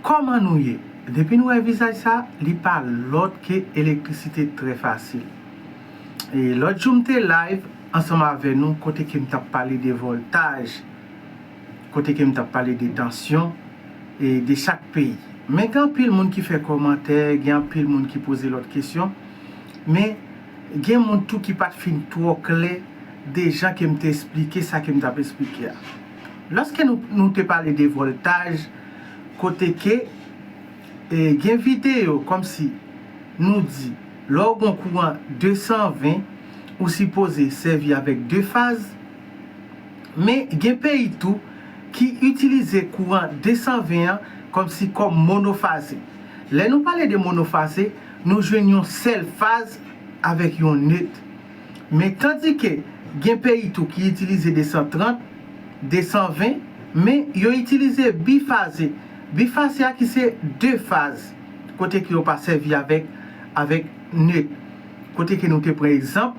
Koman nou ye? Depi nou wè vizaj sa, li pa lòt ke Elektrisite trè fasil. E lòt jou m te live ansanm avè nou kote ke m tap pale de vòltaj, kote ke m tap pale de tansyon e de chak peyi. Men gen anpil moun ki fè kòmantè, gen anpil moun ki poze lòt kesyon, men gen moun tou ki pat fin twò klè de jan ke m te esplike sa ke m tap esplike a. Lòske nou nou te pale de vòltaj kote ke e gen videyo kòmsi nou di lè w gon kouran 220 ou sipoze sèvi avèk 2 faz men gen peyi tou ki itilize kouran 220 an kòmsi kòm monofaze lè nou pale de monofaze nou jwenn yon sèl faz avèk yon net. Men tandike gen peyi tou ki itilize 230, 220, men yo itilize bifaze. Bifaze a ki se 2 faz, kote ke yo pa sèvi avèk avèk neut. Kote ke nou te pran egzanp,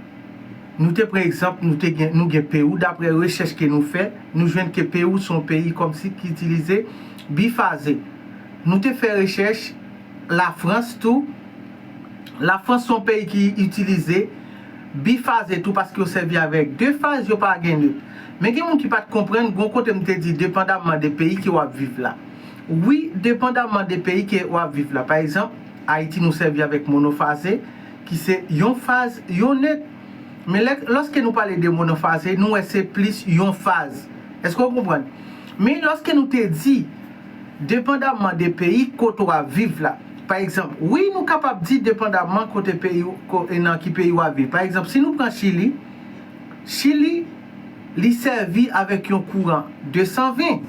nou te pran egzanp nou te gen nou gen Perou daprè rechèch ke nou fè, nou jwenn ke Perou son peyi kòmsi ki itilize bifaze. Nou te fè rechèch Lafrans tou. La Frans son peyi ki itilize bifaze tou paske yo sèvi avèk de faz yo pa gen neut. Men gen moun ki pat konprann gon kote m te di depandamman de peyi ke wap viv la. Wi depandamman de peyi ke wap viv la. Pa egzanp Ayiti nou sèvi avèk monofaze ki se yon faz yon neut. Men lè lòske nou pale de monofaze nou wè se plis yon faz. Eske w konprann? Men lòske nou te di. Depandamman de peyi kote ou ap viv la. Pa egzanp, wi nou kapab di depandamman kote peyi ou, ko, e nan ki peyi ou ap viv. Pa egzanp, si nou pran Chili, Chili, li sèvi avèk yon kouran 220.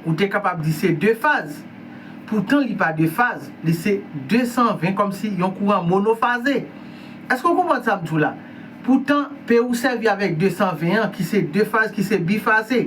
Ou te kapab di se 2 faz. Poutan li pa 2 faz, li se 220 kòm si yon kouran monofaze. Èske ou konprann sa m di w la? Poutan, peyi ou sèvi avèk 220 an ki se 2 faz, ki se bifaze.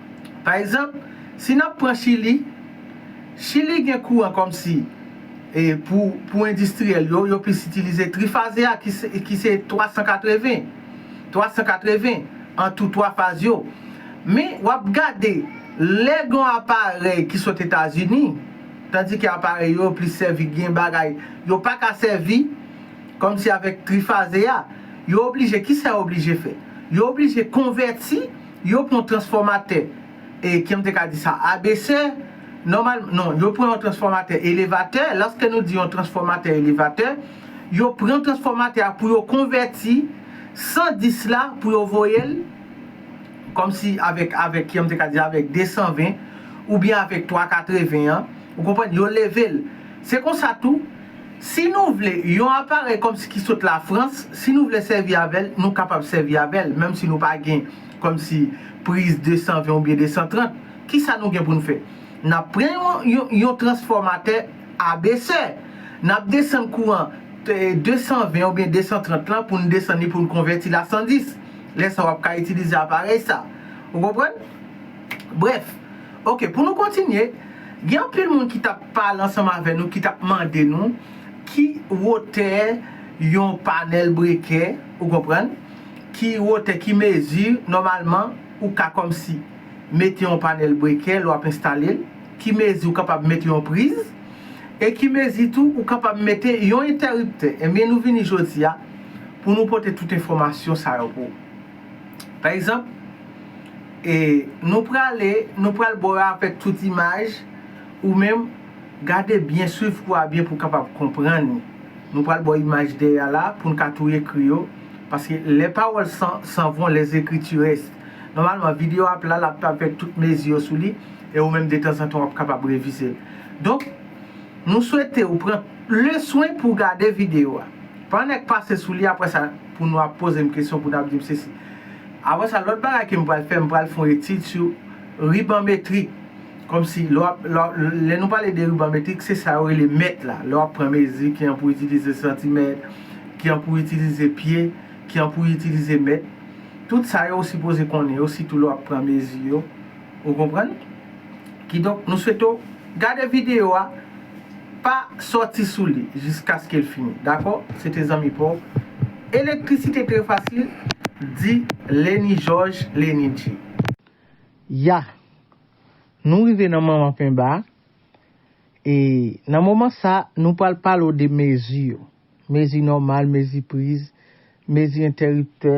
Pa egzanp, si n ap pran Chili, Chili gen kouran kòm si e pou pou endistriyèl yo, yo plis itilize trifaze a ki se ki se 380, 380 an tou twa faz yo. Men, w ap gade lè gen yon aparèy ki sot Etazini, tandike aparèy yo plis sèvi gen bagay yo pa ka sèvi kòm si avèk trifaze a, yo oblije, ki sa yo oblije fè? Yo oblije konvèti. Yo pran transfòmatè e, ki m te ka di sa, ABC, nòmal, non, yo pran yon transfòmatè elevatè, lòske nou di yon transfòmatè elevatè, yo pran transfòmatè a pou yo konvèti 110 la pou yo voye l, kòm si avèk, avèk, ki m te ka di, avèk 220, oubyen avèk 380 an, ou konprann, yo leve l. Se konsa tou. Si nou vle yon aparèy kòmsi ki sot Lafrans, si nou vle sèvi avè l, nou kapab sèvi avè l, menmsi nou pa gen kòmsi priz 220 oubyen 230. Kisa nou gen pou n fè? N ap pran yon transfòmatè abesè. N ap desann kouran 220 oubyen 230 lan pou n desann li pou n konvèti l a 110. Lè sa w ap ka itilize aparèy sa. Ou konprann? Brèf. Ok pou nou kontinye gen anpil moun ki tap pale ansanm avè nou ki tap mande nou ki wotè yon panèl brekè ou konprann ki wotè ki mezi nòmalman ou ka kòmsi mete yon panèl brekè lè wap enstale l ki mezi ou kapab mete yon priz e ki mezi tou ou kapab mete yon entèriptè ebyen nou vini jodi a pou nou pote tout enfòmasyon sa yo pou ou. Pa egzanp, e nou prale, nou pral ba w yo avèk tout imaj, ou menm, gade byen, swiv kou a byen pou w kapab konprann li. Nou pral ba w imaj dèyè a la, pou n ka tou ekri yo, paske les paroles s'en vont, les écritures restent. Nòmalman, videyo ap la, l ap avèk tout mezi yo sou li, e ou menm detanzantan w ap kapab revize l. Donk, nou swete ou pran leswen pou w gade videyo a. Pa nèk pase sou li, aprè sa, pou nou ap poze m kesyon pou n ap di m sesi. Apre sa, lòt bagay ke m pral fè, m pral fè yon etid sou riban metrik. Kòmsi, lè w ap, lè, lè nou pale de riban metrik, se sa yo rele mèt la. Lè w ap pran mezi, ki jan pou w itilize santimèt, ki jan pou w itilize pye, ki jan pou w itilize mèt. Tout sa yo ou sipoze konnen yo, sitou lè w ap pran mezi yo. Ou konprann? Kidonk nou swete w gade videyo a pa sòti sou li jiskaske l fini dakò se te zanmi pa w elektrisite trè fasil di Lenny George Lenny J. Yah! Nou rive nan manman penba a e nan moman sa nou pral pale w de mezi yo, mezi nòmal, mezi priz, mezi entèriptè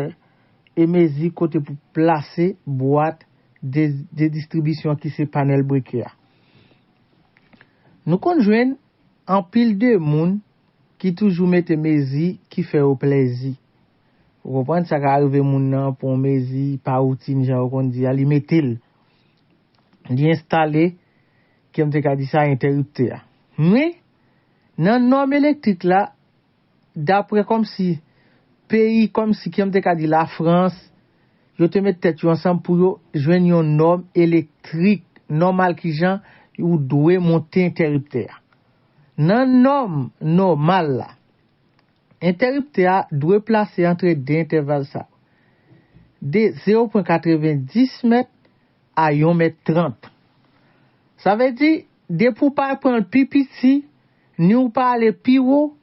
e mezi kote pou plase bwat, de distribisyon an ki se panèl breke a. Nou konn jwenn anpil de moun ki toujou mete mezi ki fè yo plèzi. Ou konprann? Sa ka arive moun nan pran yon mezi pa woutin jan yo konn di a, li mete l. Li enstale, ke m te ka di sa, entèriptè a. Men, nan nòm elektrik la, Dapre kòmsi, peyi kòmsi kijanm te ka di la frans, yo te met tèt yo ansanm pou yo jwenn yon nòm elektrik nòmal kijan ou dwe monte entèriptè a. Nan nòm nòmal la, entèriptè a dwe plase antre 2 entèval sa yo, de 0 pwen 90 mèt a yon mèt 30. Sa vle di, depi ou pa pranl pi piti, Ni ou pa ale pi wo,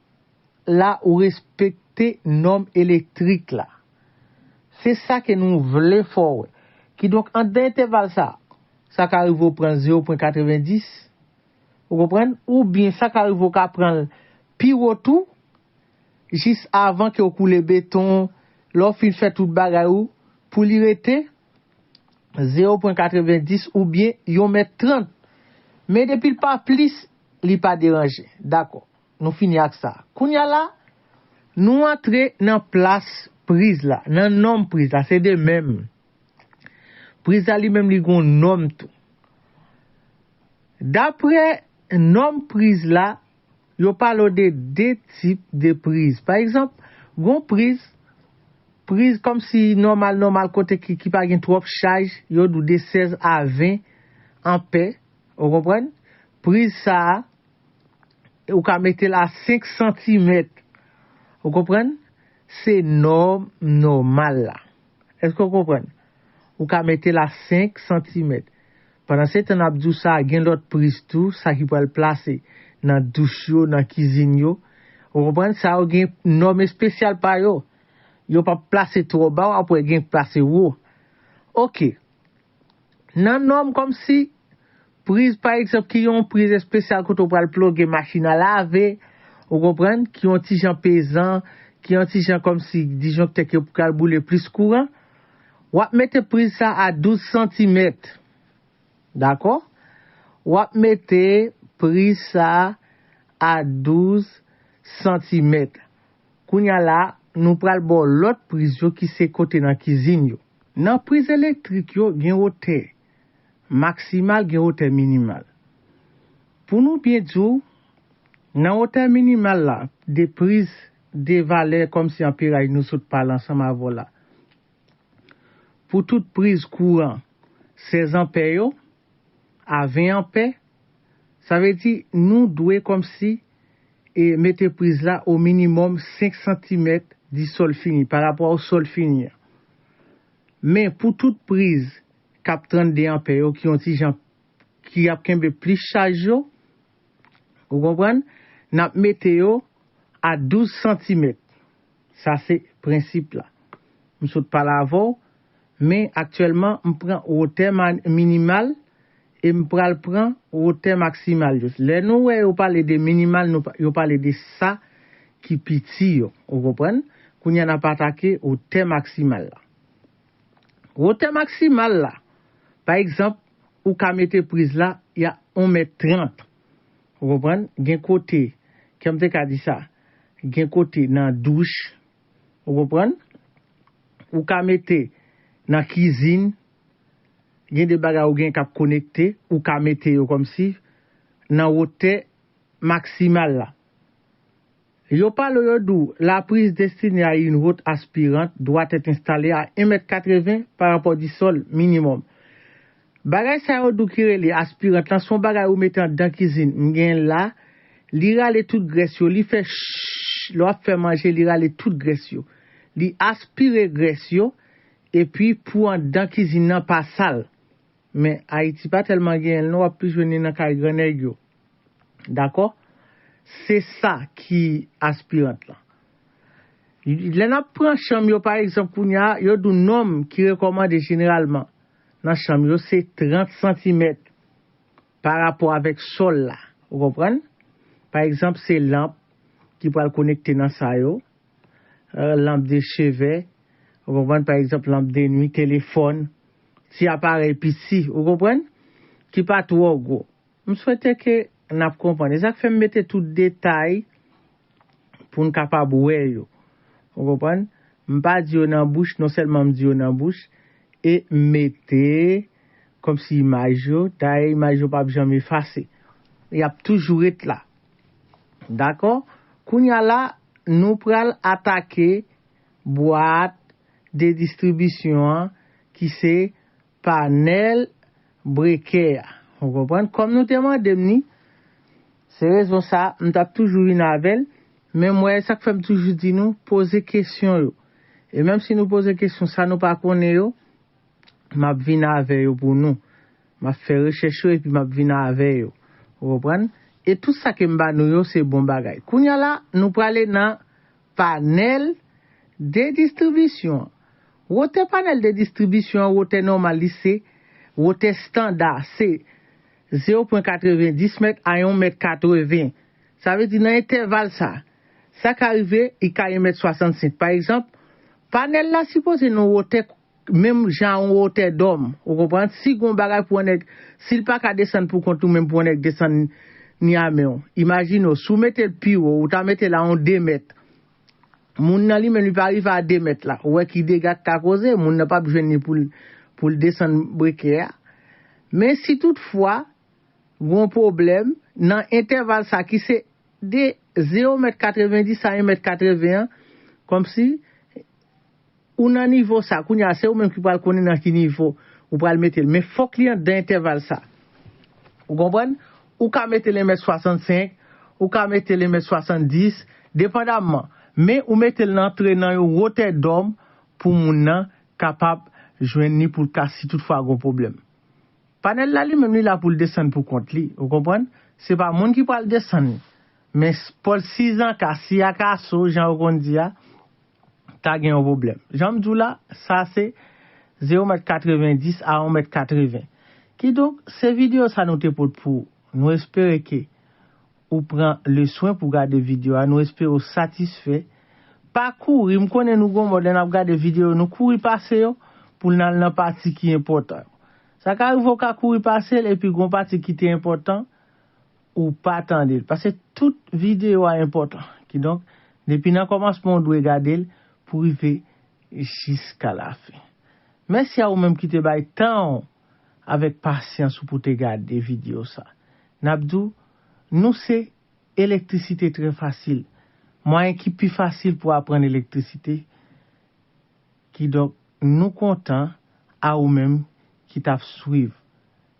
la ou respekte nòm elektrik la. Se sa ke nou vle fè w wè. Kidonk anndan entèval sa a, sa ka rive ou pran 0 pwen 90, ou konprann, oubyen sa ka rive ou ka pran l pi wo tou, jis avan ke ou koule beton, lè ou fin fè tout bagay ou, pou li rete, Zero pwen katrevenndis oubyen yon mèt trant. Men depi l pa plis, li pa deranje. Dakò. Nou fini ak sa. Kounye a la, nou antre nan plas priz la, nan nonm priz la. Se de menm. Priz la li menm li gen yon nonm tou. Dapre nonm priz la, Yo palo de 2 tip de priz. Pa egzanp, gon priz, priz kòm si nòmal nòmal kote ki ki pa gen twòp chaj, yo dou de 16 a 20 anpè, ou konprann? Priz sa a, ou ka mete l a 5 santimèt, ou konprann? Se nòm nòmal la. Èske w konprann? Ou ka mete la 5 santimèt. Pandansetan n ap di w sa, gen lòt priz tou, sa ki pral plase nan douch yo, nan kizin yo. Ou konprann? Sa yo gen nòm espesyal pa yo. Yo pap plase twò ba, w ap wè gen k plase wo. Oke. Nan nòm kòmsi, priz pa egzanp ki yon priz espesyal kote ou pral ploge machin a lave, ou konprann, ki yon ti jan pezan, ki yon ti jan kòmsi disjonktè ki pral boule plis kouran, w ap mete priz sa a 12 santimèt. Dakò? W ap mete priz sa a 12 santimèt. Kounye a la, nou pral ba w lòt priz yo ki se kote nan kizin yo. Nan priz elektrik yo gen wotè maksimal gen wotè minimal. Pou nou byen di w, nan wotè minimal la de priz de valè kòmsi anperay nou sot pale ansanm avè w la. Pou tout priz kouran 16 anpè yo a 20 anpè, sa vle di nou dwe kòmsi e mete priz la o minimòm 5 santimèt di sòl fini, pa rapò a sòl fini an. Men, pou tout priz k ap 32 anpè yo ki yon ti jan ki ap kenbe plis chaj yo, ou konprann, n ap mete yo a 12 santimèt. Sa se prensip la. M sot pale avè w, men aktyèlman m pran wotè minimal e m pral pran wotè maksimal yo. Lè nou wè yo pale de minimal, yo pale de sa ki pi ti yo. Ou konprann? Kounye a n ap atake wotè maksimal la. Wotè maksimal la, pa egzanp, ou ka mete priz la ya on mèt trant. Ou konprann? Gen kote, kè m te ka di sa, gen kote nan douch, ou konprann, ou ka mete nan kizin, gen de bagay ou gen k ap konekte, ou ka mete yo kòmsi nan wotè maksimal la. Yo pale yo di w la prise destinée à une haute aspirante doit être installée à 1 mèt 80 par rapport du sol, minimum. Bagay sa yo di w ki rele aspirant lan se yon bagay ou mete andan kizin, m genyen l la, li rale tout grès yo, li fè shhh, lè w ap fè manje li rale tout grès yo. Li aspire grès yo, epi pou andan kizin nan pa sal. Men Ayiti pa tèlman genyenl non wap plis jwenn li nan kay gran nèg yo dakò se sa ki aspirant lan lè nap pran chanm yo pa egzanp kounya yo di w nonm ki rekòmande jeneralman nan chanm yo se 30 santimèt pa rapò avèk sòl la ou konprann pa egzanp se lanp ki pral konekte nan sa yo. lanp de cheve, ou konprann, pa egzanp lanp de nwi, telefòn, ti aparèy piti, ou konprann, ki pa twò gwo. M swete ke n ap konprann. E sa k fè m mete tout detay pou n kapab wè yo. Ou konprann? M pa di yo nan bouch, non sèlman m di yo nan bouch, e m mete kòmsi imaj yo, dayè imaj yo p ap janm efase. Y ap toujou ret la. Dakò, kounya la nou pral atake bwat de distribisyon an ki se panèl brekè a. Ou konprann? Kòm nou te mande m ni, se rezon sa m t ap toujou vin avè l, men m wè sa k fè m toujou di nou poze kesyon yo. E menm si nou poze kesyon sa nou pa konnen yo, m ap vin avè yo pou nou. M ap fè rechèch yo epi m ap vin avè yo. Ou konprann? E tout sa ke m ba nou yo se bon bagay. Kounye a la, nou prale nan panèl de distribisyon an. Wotè panèl de distribisyon an, wotè nòmal li se, wotè standa se zewo pwen katreven dis mèt a yon mèt katreven. Sa vle di nan entèval sa, sa ka rive li ka yon mèt swasantsenk. Pa egzanp, panèl la sipoze nan wotè Menm jan yon wotè dòm. Ou konprann? Si gon bagay pou yon nèg, si l pa ka desann pou kont ou menm pou yon nèg desann ni a men w. Imajine w, si w mete l pi wo, ou ta mete l a yon 2 mèt. Moun nan li menm li pa rive a 2 mèt la. Ou wè ki dega k ka koze, moun nan p ap jwenn li pou l pou l desann breke a. Men si tout fwa, gon pwoblèm, nan entèval sa ki se de 0 mèt 90 a 1 mèt 80 an, kòmsi, Ou nan nivo sa, kounye a se ou menm ki pral konnen nan ki nivo ou pral mete l, men fòk li anndan entèval sa. Ou konprann? Ou ka mete l 1 mèt 65, ou ka mete l 1 mèt 70, depandamman, men ou mete l nan antre nan yon wotè dòm pou moun nan kapab jwenn li pou l ka si tout fwa gon pwoblèm. Panèl la li menm li la pou l desann pou kont li, ou konprann? Se pa moun ki pral desann li, men pòlsizanka, siyakaso jan yo konn di a, ta gen yon pwoblèm. Jan m di w la, sa se ze yon mèt 90 a yon mèt 80. Kidonk, se videyo sa nou te pot pou ou. Nou espere ke ou pran le swen pou gade videyo a, nou espere ou satisfè. Pa kouri, m konnen nou gon mòd lè n ap gade videyo, nou kouri pase yo pou l nan nan pati ki enpòtan yo. Sa ka rive ou ka kouri pase l epi gon pati ki te enpòtan, ou pa tande l paske tout video a enpòtan kidonk depi nan kòmansman ou dwe gade l pou rive jiska la fin mèsi a ou menm ki te bay tan w avèk pasyans ou pou te gade video sa nap di w nou se elektrisite trè fasil mwayen ki pi fasil pou aprann elektrisite kidonk nou kontan a ou menm ki tap swiv